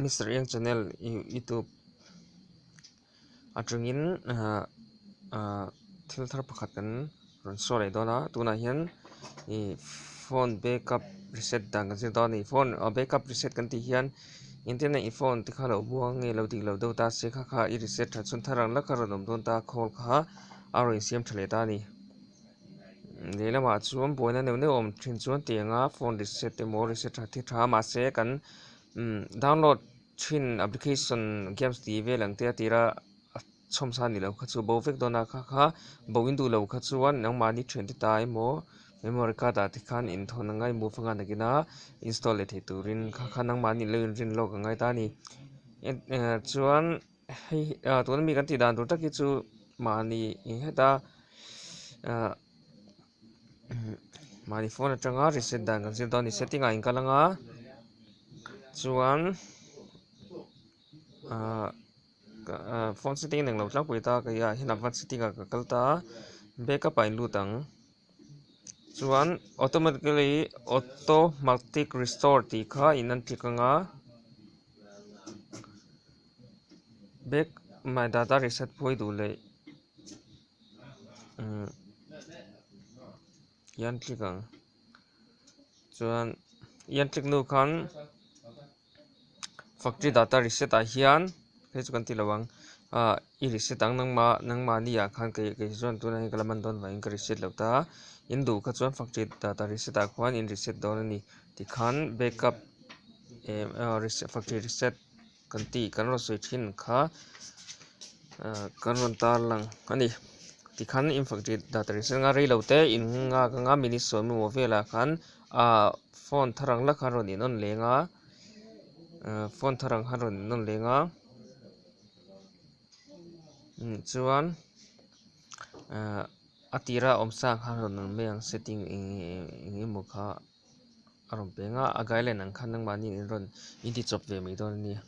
Mister Eng channel youtube atangin ah ah thil thar pakhat kan rawn show leh dawn a tunah hian ih phone backup reset dan kan zir dawn a ni phone ah backup reset kan tih hian internet i phone te kha lo buang nge lo dik lo deuh ta se kha kha i reset that chhun thar ang lak a rawn awm dawn ta a call kha a rawn insiam tha leh ta a ni. lehlamah chuan buaina neuh neuh a awm thin chuan tiang anga phone reset emaw reset tha thil tha mahse kan umm download thin application games tih vel ang te a tira a chhawm sa ni lo kha chu bo vek dawna kha kha bo in duh lo kha chuan engmahni thian te ta emaw memory card ah te khan in thawn angai move anga nakin a install leh thei turin kha khan engmahni lo in rinlawk angai ta a ni chuan-- Hei ah tuna mi kan tih dan tur tak hi chu mahni eng heta ah mahni phone atanga reset dan kan zir dawn a ni setting ah inkal anga chuan ah ah phone setting a neng lo tlangpui ta kei ah hian advance setting ah ka kal ta a backup ah a in lut ang chuan automatically automatic restore tih kha a in entir anga. bag mah data reset phuai duh leh umm ian tlik ang chuan ian tlik nu khan factory data reset ah hian hei chu kan tih loh ang ah i reset ang nang mah nang mahni ah khan kei kei zawng an tuna hi ka la man dawn vang in ka reset loh ta a in duh kha chuan factory data reset ah khan in reset dawn a ni tikhan backup eeh factory reset -- kan ti kan rawn sawi thin kha kan rawn tar lang a ni tikhan infantry dah ta rinse nga reilo te in nghak anga minute sawi maw velah khan ah phone thar ang la khan rawn in on leng a phone thar ang khan rawn in on leng a chuan a tirah awmsa khan rawn awm mai ang setting eng emaw kha. a rawn peng a a gai line ang khan nang mahni in rawn in ti chawp ve mai dawn a nia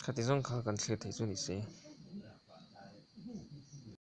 khati zawng kha kan thlir theih chu ni se.